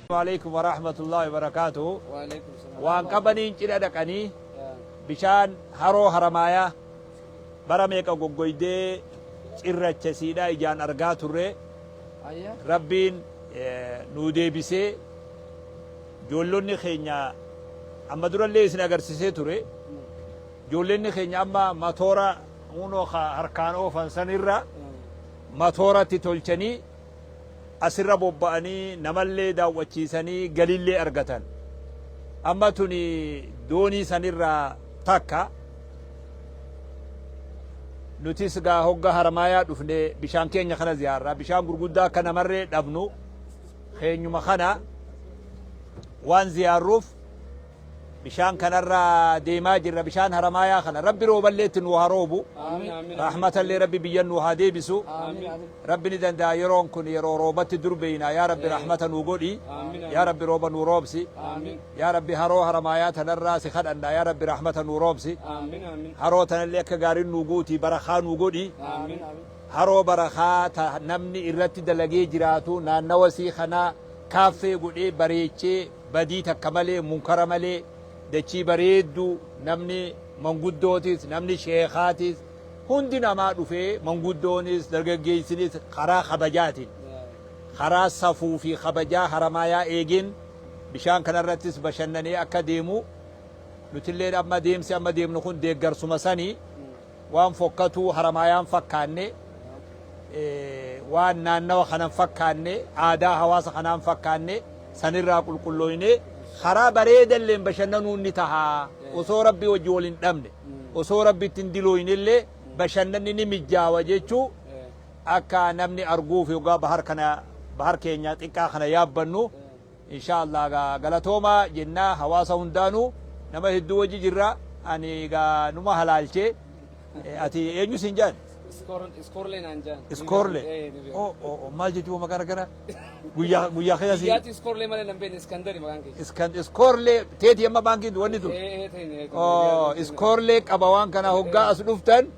Waaleykum warahmatullahi wabarakatuh. Waan qabaniin cidha dhaqanii bishaan haroo haramaayaa bara meeqa goggoydee cirracha siidhaa ijaan argaa turre rabbiin nuu deebisee joollonni keenya amma durallee isin agarsisee ture joollonni keenya amma matoora unoo harkaan oofan sanirra matooratti tolchanii asirra bobba'anii namallee daawwachiisanii galiillee argatan. Amma tuni doonii sanirraa takka nutis gaa hogga haramaayaa dhufne bishaan keenya kana ziyaarra bishaan gurguddaa akka namarree dhabnu keenyuma kana waan ziyaarruuf Bishaan kanarra deemaa jirra bishaan haramaayaa kana rabbi rooballee itti nuu haa roobu rahmatallee rabbi biyyan nuu haa deebisu rabbi ni danda'a yeroon kun yeroo roobatti dur beeyna yaa rabbi rahmata nuu godhi yaa rabbi rooba nuu roobsi yaa rabbi haroo haramaayaa tanarraa si kadhanna yaa rabbi rahmata nuu roobsi haroo tanallee akka gaariin nuu guutii barakaa nuu godhi haroo barakaa ta namni irratti dalagee jiraatu naannawa sii kanaa kaaffee godhee bareechee Badii takka malee, munkara malee, dachii bareedduu namni manguddootis, namni sheekaatis, hundi namaa dhufee manguddoonis, dargaggeessinis karaa kabajaatiin, karaa safuu fi kabajaa Haramaayaa eegeen bishaan kanarrattis bashannanee akka deemu nutilleen amma deemsi amma deemnu kun deeggarsuma sani. Waan fokkatuu Haramaayaan fakkaanne, waan naannawa kanan fakkaanne, aadaa hawaasa kanaan fakkaanne sanirraa qulqullooynee karaa bareedalleen bashannanuun ni taha. Osoo Rabbii wajji wal hin dhabne, osoo Rabbitti hin dilooynellee bashannanni ni mijjaawa jechuu akka namni arguuf yoggaa bahar kana bahar keenya xiqqaa kana yaabbannu, Inshaa Allah egaa galatoomaa jennaa hawaasa hundaanuu nama hedduu wajji jirra ani egaa numa halaalchee ati eenyu siin jaan? Iskoorlee naan jaan. Iskoorlee. Oh oh oh maal jechuun maqaa rakkana guyyaa guyyaa keessa si. Guyyaatti iskoorlee malee nan beekne iskandari maqaan kee. Iskan iskoorlee teeti amma baankiin wanni tun. Ee ee ta'in. Oh iskoorlee qaba waan kana hoggaa as dhuftan.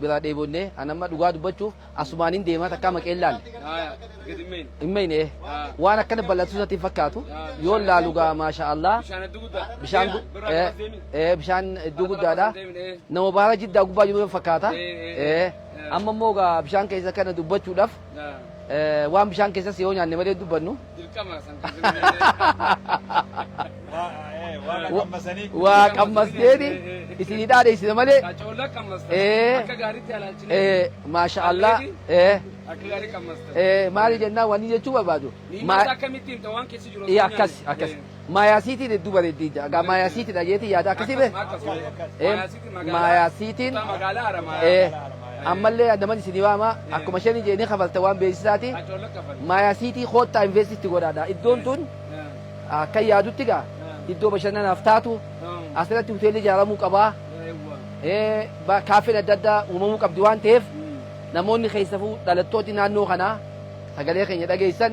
biraa dheebonne an amma dhugaa dubbachuuf asumaanin deemaa takkaa maqeen laal hin meyne waan akkana bal'atu isatti hin fakkaatu yoon laalu gaa maasha Allah bishaan gu- eh, eh, bishaan iddoo guddaadha nama baara jiddaa gubbaa jiru fakkaata Eh, amma immoo gaa bishaan keessa kana dubbachuudhaaf Eh, waan bishaan keessas yoo nyaanne malee dubbannu waa qammasneeni isinii dhaadheessina malee Eh. eh, maasha allah eh, eh, maali jennaan wanni jechuu barbaadu Ma- Eh, akkas akkas Maayaasiitiin hedduu bareeddi ja'a. Gaa maayaasiitidha jeetii yaada akkasii bee? Maayaasiitiin ammallee naman isin waama akkuma shanii jee ni kafalta waan beeksisaati. Maayaasiitii koottaa investitti godhaadha. Iddoon tun akka yaadutti gaa iddoo bashannanaaf taatu asirratti hoteelli ijaaramuu qabaa. Kaaffeen adda addaa uumamuu qabdi waan ta'eef namoonni keessafuu dhalattooti naannoo kanaa sagalee keenya dhageessan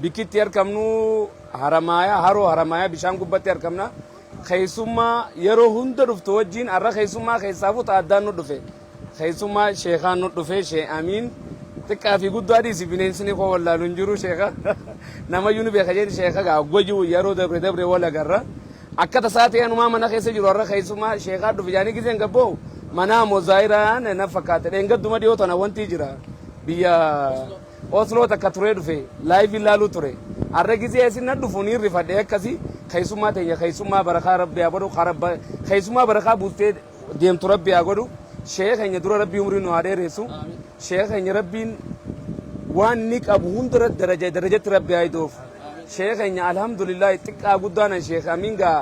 Bikkitti arkamnu Haramaayaa, Haroo Haramaayaa bishaan gubbatti arkamna. Keessummaa yeroo hunda dhuftu wajjin har'a keessummaa keessaaf uta addaan nu dhufe. Keessummaa sheekaan nu dhufe shee amiin. Xiqqaa fi guddaa dhiisi bineensni koo wallaalu hin jiru sheeka. Namayyuu ni beeka jeen sheeka gaa goju yeroo dabre dabre wal agarra. Akka tasaa ta'e anumaa mana keessa jiru har'a keessummaa sheekaa dhufe jaanii giseen gabboo manaa moo zaayiraan na fakkaate dheengadduma dhiyoo tana wanti jira biyya Oslo takka turee dhufe live ilaaluu ture arra gizee asi na dhufu niin rifadhe akkasi keessummaa teenya keessummaa barakaa rabbi haa godhu karabba keessummaa barakaa buustee deemtu rabbi haa godhu sheeka keenya dura rabbi umrii nu haa dheeressu sheeka keenya rabbiin waan ni qabu hundara daraja darajatti rabbi haa idoof sheeka keenya alhamdulillah xiqqaa guddaanan sheeka amiin gaa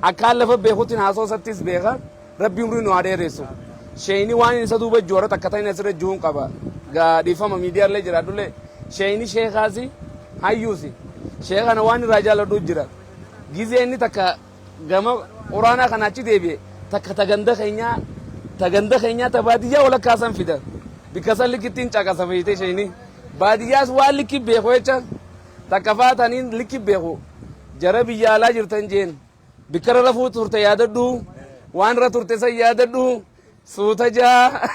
akkaan lafa beekutti haasoo isattis beeka Rabbi umrii nu haa dheeressu. Sheeyni waan inni isa duuba joora takka ta'in asirra jihuun qaba. Gaa dhiifama miidiyaallee jiraadhullee sheeyni sheekaasi hayyuusi. Sheeka kana waan irraa jaalladhu jira. Gizee inni takka gama quraanaa kana achi deebi'e takka ta ganda keenyaa ta ganda keenyaa ta baadiyyaa walakkaa san fida. Bikka san likkittiin caqasa feeyte sheeyni. Baadiyyaas waan likki beeku jecha takka faataniin likki beeku. Jara biyya alaa jirtan jeen. Bikkarra rafuu turte yaadadhu. Waan irra turte san yaadadhu. Suuta jaa.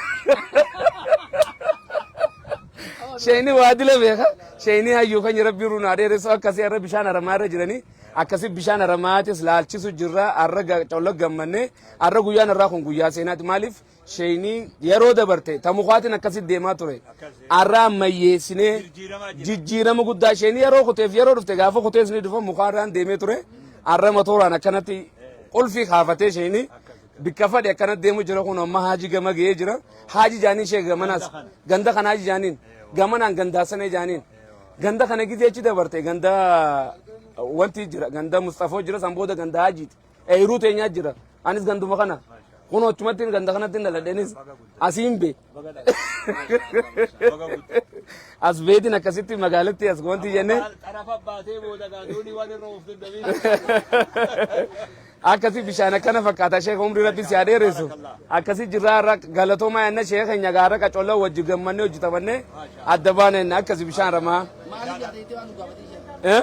Sheeyni waa dila beeka. Sheeyni hayyuu kan rabbii irra naa dheeressu akkasii irra bishaan haramaa irra jiranii akkasii bishaan haramaatis laalchisu jirra har'a ga- colla gammanne har'a guyyaan irraa kun guyyaa seenaati maaliif Sheeynii yeroo dabarte ta mukaatiin akkasitti deemaa ture arraa ammayyeessinee jijjiirama guddaa sheeynii yeroo kuteef yeroo dhufte gaafa kutees ni dhufa mukaarraan deemee ture arra matooraan akkanatti qulfii kaafatee sheeynii bikka fadhe akkanatti deemu jira kun amma haaji gama ga'ee jira haaji jaaniin shee gamanaas ganda kan haaji jaaniin gamanaan gandaa sanee jaaniin ganda kana gizee achi dabarte ganda wanti jira ganda mustafoo jira san booda ganda haajiiti Eeruu teenyaa jira. Anis ganduma kana. Kun achumatti ganda kanatti hin dhaladheenis asiin bee. As beetiin akkasitti magaalatti as wanti jennee Xarafa baatee booda gaadoonii waan irra ooftu dabiin. akkasi bishaan akkana fakkaata sheeka umrii rabbi si adeeressu akkasi jirraa irra galatoomaa yanna sheeka keenya gaara qacolla wajji gammannee hojjetamannee adda baaneen akkasi bishaan ramaa. Maaliif yaadee waan nu gaafatee jira? Eh?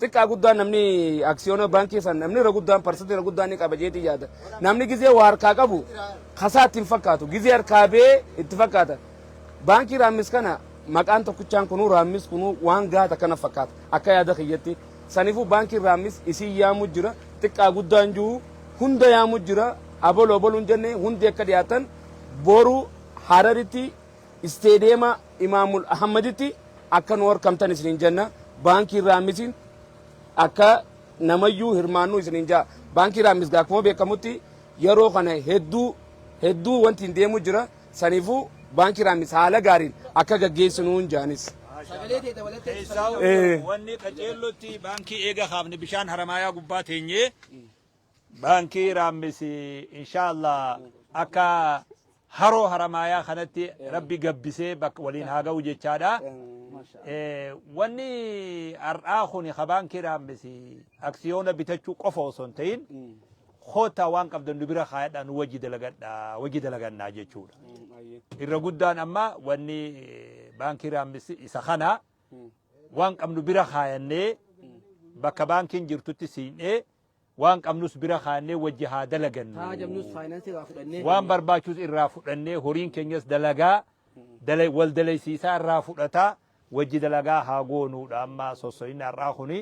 Xiqqaa guddaan namni aksiyoona baankii san namni irra guddaan parsantii irra guddaan ni qaba jeetii yaada. Namni gizee waa harkaa qabu kasaa itti hin fakkaatu. Gizee harkaa bee itti fakkaata. Baankii raammis kana maqaan tokkichaan kunuu raammis kunuu waan gaata kana fakkaata. Akka yaada kiyyatti. Sanifuu baankiin raammis isiin yaamu jira. Xiqqaa guddaan jiru hunda yaamu jira. Aboloo boluun jenne hundi akka dhiyaatan boru hararitti Isteediyeema Imaamul Ahammaditti akka nu horkamtan isiniin jenna. Baankii Raammisiin akka namayyuu hirmaannu isiniin jaa. Baankii Raammis gaa akkuma beekamutti yeroo kana hedduu hedduu wanti hin deemu jira. Saniifuu Baankii Raammis haala gaariin akka gaggeessinuun jaanis. Keessaa'u wanni qaceellotti baankii eega kaafne bishaan haramaayaa gubbaa teenyee Baankii Raammis inshaa Allah akka haroo haramaayaa kanatti rabbi gabbisee bakka waliin haa ga'u jechaadha. Eh, Wanni har'aa kun ka baankii Raammis aksiyoona bitachuu qofa osoo hin ta'in kootaa waan qabdan nu bira kaayadhaa nu wajji dalagadhaa wajji dalagannaa jechuudha. Irra guddaan amma wanni eh, baankii Raammis isa kana waan qabnu bira kaayannee bakka baankiin jirtutti siin'ee Waan qabnus bira kaa'annee wajji haa dalagannu. Taajabnus faayinaansii irraa fudhannee. Waan barbaachus irraa fudhannee horiin keenyas dalagaa dala wal dalaysiisaa irraa fudhataa wajji dalagaa haa goonuudha amma sosso'inni har'aa kuni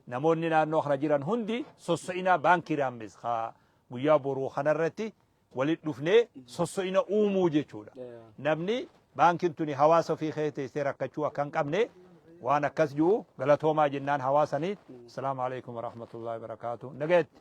namoonni naannoo kana jiran hundi sosso'inaa baankiiraan mis haa guyyaa boruu kanarratti walitti dhufnee sosso'ina uumuu jechuudha. Namni baankiin tuni hawaasa ofii keessa teessee rakkachuu akka hin qabne waan akkas jiru galatoomaa jennaan hawaasanii. Asalaamu alaikum warahmatullahi wabarakaatu. Nagayatti.